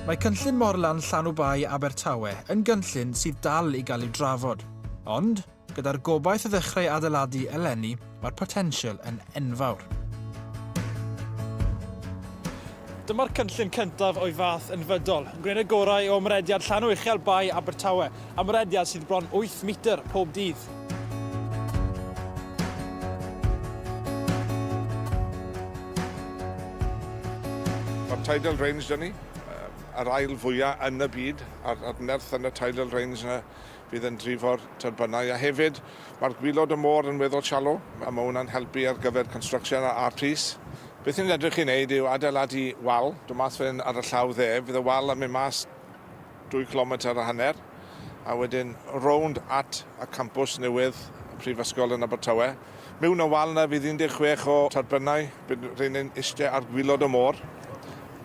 Mae cynllun Morlan Llanw Bae Abertawe yn gynllun sydd dal i gael ei drafod, ond, gyda'r gobaith o ddechrau adeiladu eleni, mae'r potensial yn enfawr. Dyma'r cynllun cyntaf o'i fath yn Fydol, yn gwneud y gorau o ymrediad llanw uchel Bae Abertawe, ymrediad sydd bron wyth metr pob dydd. Mae'r tidal range 'da ni, yr ail fwya' yn y byd, a'r nerth yn y tidal range 'na Bydd yn drifo'r tyrbynau a hefyd mae'r gwilod y môr yn weddol shallow a mae hwnna'n helpu ar gyfer construction a art piece. Beth ni'n edrych i wneud yw adeiladu wal, dod mas fan ar y llaw dde, fydd y wal yn mynd mas dwy cilometr a hanner a wedyn rownd at y campws newydd y Prifysgol yn Abertawe. Mewn y wal yna fydd 16 o tyrbynau, bydd rheiny'n iste ar gwilod y môr.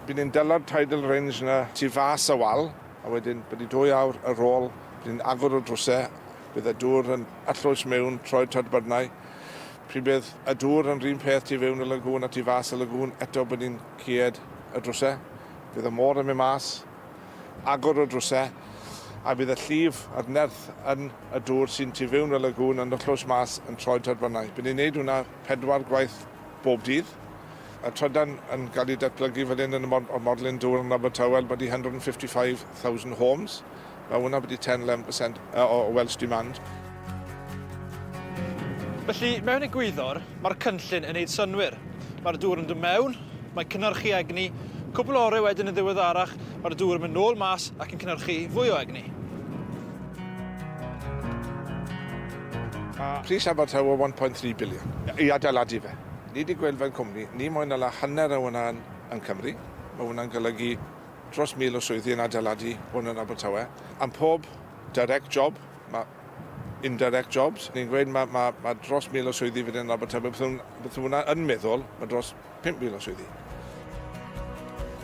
Bydd ni'n dala'r tidal range yna tu fas y wal. A wedyn, bod ni dwy awr ar ôl, bod ni'n agor y drwsau, bydd y dŵr yn arllwys mewn, troed tadbyrnau. Pryd bydd y dŵr yn run peth tu fewn y lagŵn a tu fas y lagŵn, eto bod ni'n cied y drwsau. Bydd y môr yn mynd mas, agor y drwsau, a bydd y llif a'r nerth yn y dŵr sy'n tu fewn y lagŵn yn arllwys mas yn troed tadbyrnau. Bydd ni'n neud hwnna pedwar gwaith bob dydd. Y trydan yn cael ei datblygu fan hyn yn y mod o'r Morlyn Dŵr yn Abertawe, about 155,000 homes. Mae hwnna wedi 10-11% uh, o Welsh demand. Felly, mewn egwyddor, mae'r cynllun yn neud synwyr. Mae'r dŵr yn dod mewn, mae cynhyrchu egni, cwbl ore wedyn yn ddiweddarach, mae'r dŵr yn mynd nôl mas ac yn cynhyrchu fwy o egni. Pris Abertawe 1.3 biliwn i adeiladu fe. Nid y gwell fel cwmni, ni mwy na la hanner a wna'n yn Cymru. Mae hwnna'n golygu dros 1,000 o swyddi yn adeiladu hwn yn Abertawe. Am pob direct job, mae indirect jobs. Ni'n gweud mae, mae, mae dros 1,000 o swyddi fan hyn yn Abertawe. Beth hwn, beth hwnna yn meddwl, mae dros 5,000 o swyddi.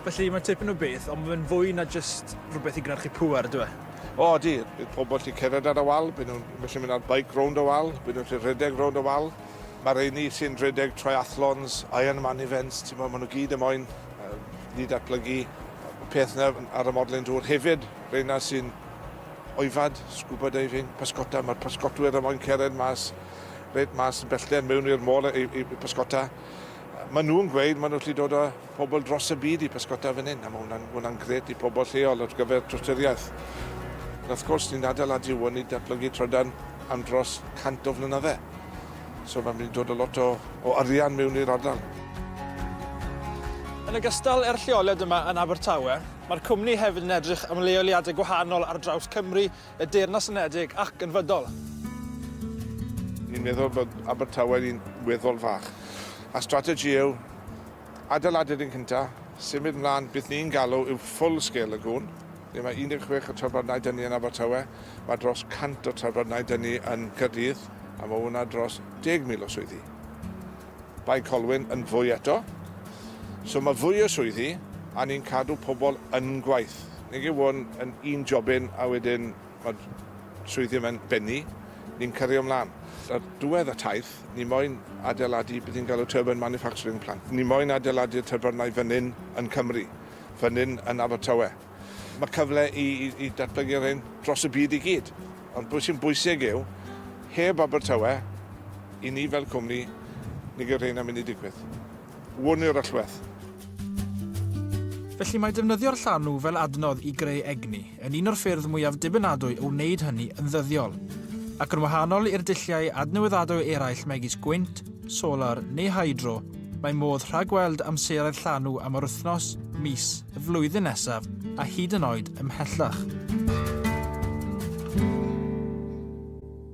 Felly, mae'n tipyn o beth, ond mae fe'n fwy na jyst rhywbeth i gynhyrchu pŵer, yndyw e? O, ydy. Bydd pobl gallu cerdded ar y wal, bydd nhw'n gallu mynd ar beic rownd y wal, bydd nhw'n gallu rhedeg rownd y wal. Mae'r rheini sy'n rhedeg triathlons, Ironman events, ti'n meddwl, maen nhw gyd am moyn ni datblygu peth na ar y modlen dŵr. Hefyd, reina sy'n oifad, scuba diving, pysgota, mae'r pysgotwyr am moyn cered mas, red mas yn bellter mewn i'r môl i, i, i pysgota. Maen nhw'n gweud, maen nhw'n lli dod o pobl dros y byd i bysgota fan hyn a mae hwnna'n hwnna'n grêt i pobl lleol ar gyfer trostoriaeth. Wrth gwrs, ni'n adeiladu hwn i datblygu trydan am dros 100 o flynydde. So mae'n mynd i dod o lot o, o arian mewn i'r ardal. Yn ogystal â'r lleoliad yma yn Abertawe, mae'r cwmni hefyd yn edrych am leoliadau gwahanol ar draws Cymru y Deyrnas Unedig ac yn fydol. Ni'n meddwl bod Abertawe'n un weddol fach, a strategy yw adeiladu'r un cynta, symud mlaen, beth ni'n galw yw full scale lagoon, lle mae 16 o trafbardnau dynnu yn Abertawe, mae dros 100 o trafbardnau dynnu yn Caerdydd, a mae hwnna dros 10,000 o swyddi. Bae Colwyn yn fwy eto. So mae fwy o swyddi a ni'n cadw pobl yn gwaith. Nag yw hwn yn un jobyn a wedyn mae'r swyddi yma'n bennu, ni'n cario mlaen. Ar ddiwedd y taith, ni moyn adeiladu beth ni'n galw turbine manufacturing plant. Ni moyn adeiladu'r tyrbynau fan hyn yn Cymru, fan hyn yn Abertawe. Mae cyfle i, i, i datblygu'r hyn dros y byd i gyd. Ond beth sy'n bwysig yw, heb Abertawe, i ni fel cwmni, ni gyda'r hyn am mynd i digwydd. Wn i'r allwedd. Felly mae defnyddio'r llanw fel adnodd i greu egni yn un o'r ffyrdd mwyaf dibynadwy o wneud hynny yn ddyddiol. Ac yn wahanol i'r dulliau adnewyddadwy eraill megis gwynt, solar neu hydro, Mae modd rhagweld amseroedd llanw am yr wythnos, mis, y flwyddyn nesaf a hyd yn oed ymhellach.